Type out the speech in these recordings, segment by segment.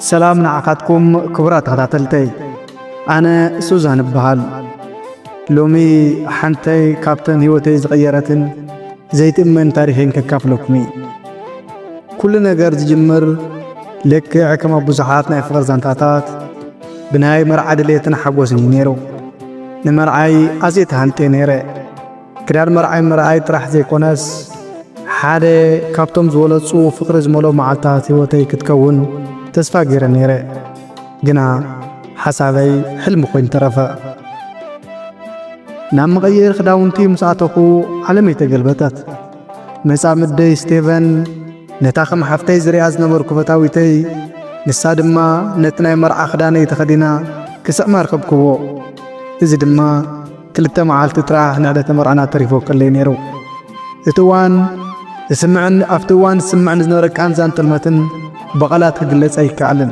ሰላም ንዓኻትኩም ክቡራት ተኸታተልተይ ኣነ ሱዛን እበሃል ሎሚ ሓንተይ ካብተን ህይወተይ ዝቐየረትን ዘይትእመን ታሪኸይን ከካፍለኩም እዩ ኩሉ ነገር ዝጅምር ልክዕ ከም ኣብ ብዙሓት ናይ ፍቕሪ ዛንታታት ብናይ መርዓ ድሌትን ሓጐስን እዩ ነይሩ ንመርዓይ ኣዝየ ተሃንጥየ ነይረ ክዳን መርዓይ ምርኣይ ጥራሕ ዘይኮነስ ሓደ ካብቶም ዝበለጹ ፍቕሪ ዝመልኦ መዓልታት ህይወተይ ክትከውን ተስፋ ገይረ ነይረ። ግና ሓሳበይ ሕልሚ ኮይኑ ተረፈ። ናብ መቐየሪ ክዳውንቲ ምስ ኣተኹ ዓለመይ ተገልበጠት። መጻምደይ ስቴቨን ነታ ከም ሓፍተይ ዝርኣ ዝነበርኩ ፈታዊተይ ንሳ ድማ ነቲ ናይ መርዓ ክዳነይ ተኸዲና ክስዕማ ርኸብክዎ። እዚ ድማ ክልተ መዓልቲ ጥራሕ ንዕለተ መርዓና ተሪፉ ክለይ ነይሩ። እቲ እዋን ዝስምዕን ኣብቲ እዋን ዝስምዕን ዝነበረ ቃንዛን ጥልመትን ብቓላት ክግለጽ ኣይከኣልን።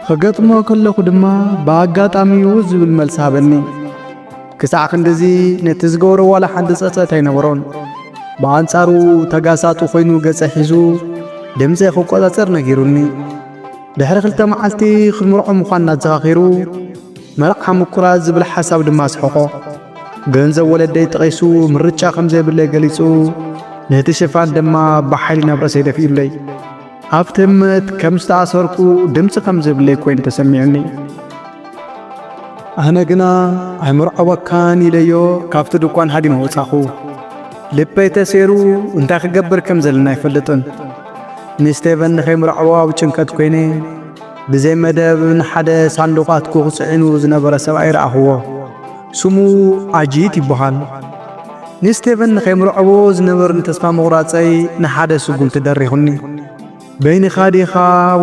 ኽገጥሞ ከለኹ ድማ ብኣጋጣሚ'ዩ ዝብል መልሲ ሃበኒ። ክሳዕ ክንድዚ ነቲ ዝገበሮ ዋላ ሓንቲ ጸጸት ኣይነበሮን። ብኣንጻሩ ተጋሳጡ ኮይኑ ገጸ ሒዙ ድምጸይ ክቆጻጸር ነጊሩኒ። ድሕሪ ክልተ መዓልቲ ክንምርዖ ምዃንና ኣዘኻኺሩ፣ መርዓ ምቁራጽ ዝብል ሓሳብ ድማ ኣስሕቖ። ገንዘብ ወለደይ ጠቒሱ ምርጫ ከም ዘይብለይ ገሊጹ፣ ነቲ ሽፋን ድማ ብሓይሊ ናብ ርእሰይ ደፊኡለይ። ኣብ ትምት ከም ዝተኣሰርኩ ድምፂ ከም ዝብለይ ኮይኑ ተሰሚዑኒ። ኣነ ግና ኣይምርዐወካን ኢለዮ ካብቲ ድኳን ሃዲመ ወጻኹ። ልበይ ተሴሩ እንታይ ክገብር ከም ዘለና ኣይፈልጥን። ንስቴቨን ንኸይምርዐዎ ኣብ ጭንቀት ኰይነ ብዘይ መደብ ንሓደ ሳንዱቕ ኣትኩኽ ጽዒኑ ዝነበረ ሰብኣይ ረኣኽዎ። ስሙ ኣጂት ይበሃል። ንስቴቨን ንኸይምርዐዎ ዝነበርኒ ተስፋ ምቝራጸይ ንሓደ ስጕምቲ ደሪኹኒ። በይንኻ ዲኻ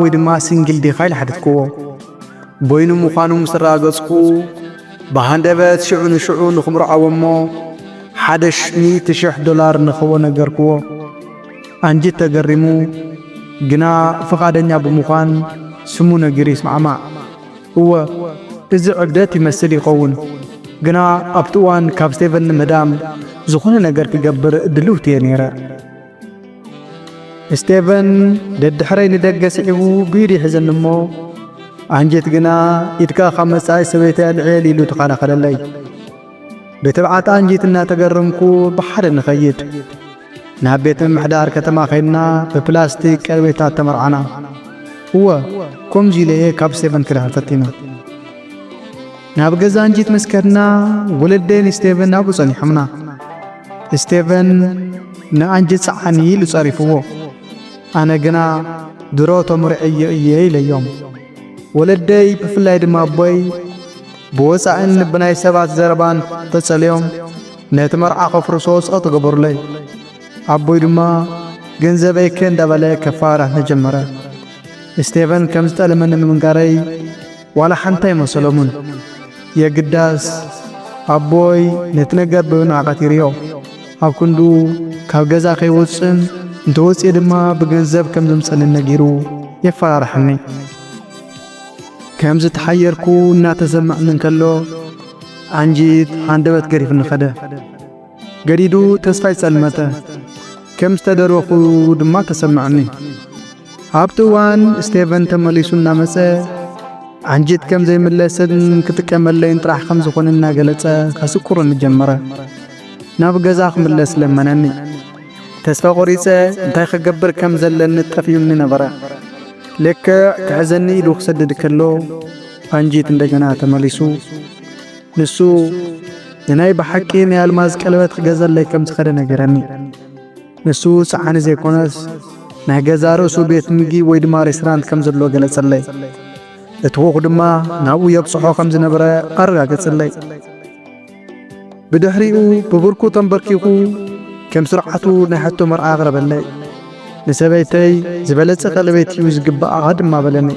ወይ ድማ ሲንግል ዲኻ ኢለ ሓተትክዎ። በይኑ ምዃኑ ምስ ኣረጋገጽኩ ብሃንደበት ሽዑ ንሽዑ ንኽምርዐዎ እሞ ሓደ ሚእቲ ሽሕ ዶላር ንኽህቦ ነገርክዎ። ኣንጅት ተገሪሙ ግና ፍቓደኛ ብምዃን ስሙ ነጊሩ ይስማዕማዕ። እወ እዚ ዕብደት ይመስል ይኸውን፣ ግና ኣብቲ እዋን ካብ ስቴቨን ንምህዳም ዝኾነ ነገር ክገብር ድልውቲ እየ ነይረ። ስቴቨን ደድሕረይ ንደገ ስዒቡ ብኢዱ ይሕዘኒ እሞ ኣንጀት ግና ኢድካ ካብ መጻኢ ሰበይቲ ኣልዕል ኢሉ ተኸላኸለለይ። ብትብዓት ኣንጀት እናተገረምኩ ብሓደ ንኸይድ ናብ ቤት ምምሕዳር ከተማ ኸይድና ብፕላስቲክ ቀርቤታት ተመርዓና። እወ ከምዚ ኢለ እየ ካብ ስቴቨን ክዳን ፈቲና። ናብ ገዛ እንጂት ምስ ከድና ወለደይ ንስቴቨን ናብኡ ጸኒሖምና። ስቴቨን ንኣንጂት ሰዓኒ ኢሉ ጸሪፍዎ። ኣነ ግና ድሮ ተምርዐዮ እየ ኢለዮም። ወለደይ ብፍላይ ድማ ኣቦይ ብወጻእን ብናይ ሰባት ዘረባን ተጸልዮም ነቲ መርዓ ከፍርሶ ጸቕጢ ገበሩለይ። ኣቦይ ድማ ገንዘበይ እከ እንዳበለ ከፋራህኒ ጀመረ። ስቴቨን ከም ዝጠለመኒ ምንጋረይ ዋላ ሓንቲ ኣይመሰሎምን። የግዳስ ኣቦይ ነቲ ነገር ብምንዕቀት ይርዮ። ኣብ ክንዱ ካብ ገዛ ከይወጽእን እንተወጽኤ ድማ ብገንዘብ ከም ዘምጸኒ ነጊሩ የፈራርሐኒ። ከም ዝተሓየርኩ እናተሰምዐኒ እንከሎ ኣንጂት ሃንደበት ገሪፍኒ ኸደ ገዲዱ ተስፋይ ጸልመተ ከም ዝተደረኹ ድማ ተሰምዐኒ ኣብቲ እዋን ስቴቨን ተመሊሱ እናመጸ ኣንጂት ከም ዘይምለስን ክጥቀመለይን ጥራሕ ከም ዝኾነ እናገለጸ ከስቁርኒ ጀመረ ናብ ገዛ ክምለስ ለመነኒ ተስፋ ቖሪጸ እንታይ ክገብር ከም ዘለኒ ጠፍዩኒ ነበረ ልክዕ ክሕዘኒ ኢሉ ክሰድድ ከሎ ፋንጂት እንደገና ተመሊሱ ንሱ ንናይ ብሓቂ ናይ ኣልማዝ ቀለበት ክገዘለይ ከም ዝኸደ ነገረኒ። ንሱ ሰዓኒ ዘይኮነስ ናይ ገዛ ርእሱ ቤት ምግቢ ወይ ድማ ሬስቶራንት ከም ዘሎ ገለጸለይ። እቲ ኹኽ ድማ ናብኡ የብጽሖ ከም ዝነበረ ኣረጋገጸለይ። ብድሕሪኡ ብብርኩ ተንበርኪኹ ከም ስርዓቱ ናይ ሕቶ መርዓ ኣቕረበለይ። ንሰበይተይ ዝበለጸ ቀለቤት እዩ ዝግብኣ ድማ በለኒ።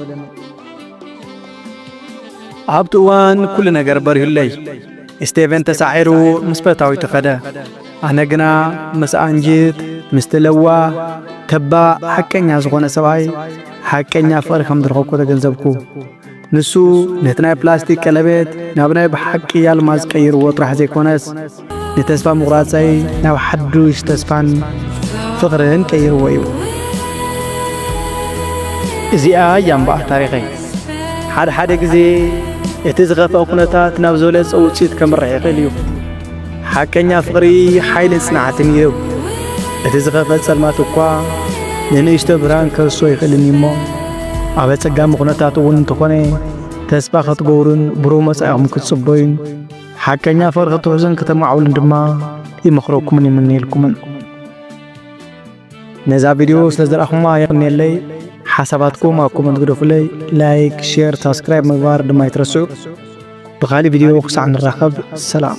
ኣብቲ እዋን ኩሉ ነገር በሪሁለይ። ስቴቨን ተሳዒሩ ምስ ፈታዊቱ ኸደ። ኣነ ግና ምስ ኣንጅት ምስቲ ለዋ ተባ ሓቀኛ ዝኾነ ሰብኣይ ሓቀኛ ፍቕሪ ከም ዝረኸብኩ ተገንዘብኩ። ንሱ ነቲ ናይ ፕላስቲክ ቀለቤት ናብ ናይ ብሓቂ ኣልማዝ ቀይርዎ ጥራሕ ዘይኮነስ ንተስፋ ምቑራጸይ ናብ ሓዱሽ ተስፋን ፍቕርን ቀይርዎ እዩ። እዚኣ እያ እምበኣር ታሪኸይ። ሓድሓደ ግዜ እቲ ዝኸፍኣ ኩነታት ናብ ዝበለጸ ውጽኢት ከምርሕ ይኽእል እዩ። ሓቀኛ ፍቕሪ ሓይልን ጽንዓትን ይህብ። እቲ ዝኸፍአ ጸልማት እኳ ንንእሽቶ ብርሃን ከርሶ ይኽእልን እዩሞ ኣብ ኣጸጋሚ ኹነታት እውን እንተኾነ ተስፋ ኸትገብሩን ብሩህ መጻኢኹም ክትጽበዩን ሓቀኛ ፍቕሪ ክትውሕዙን ከተማዕብሉን ድማ ይመኽረኩምን ይምነየልኩምን። ነዛ ቪድዮ ስለ ዝረኣኹማ የቕንየለይ። ሓሳባትኩም ኣብ ኮመንት ግደፉለይ። ላይክ፣ ሼር፣ ሳብስክራይብ ምግባር ድማ ኣይትረስዑ። ብኻሊእ ቪድዮ ክሳዕ ንራኸብ ሰላም።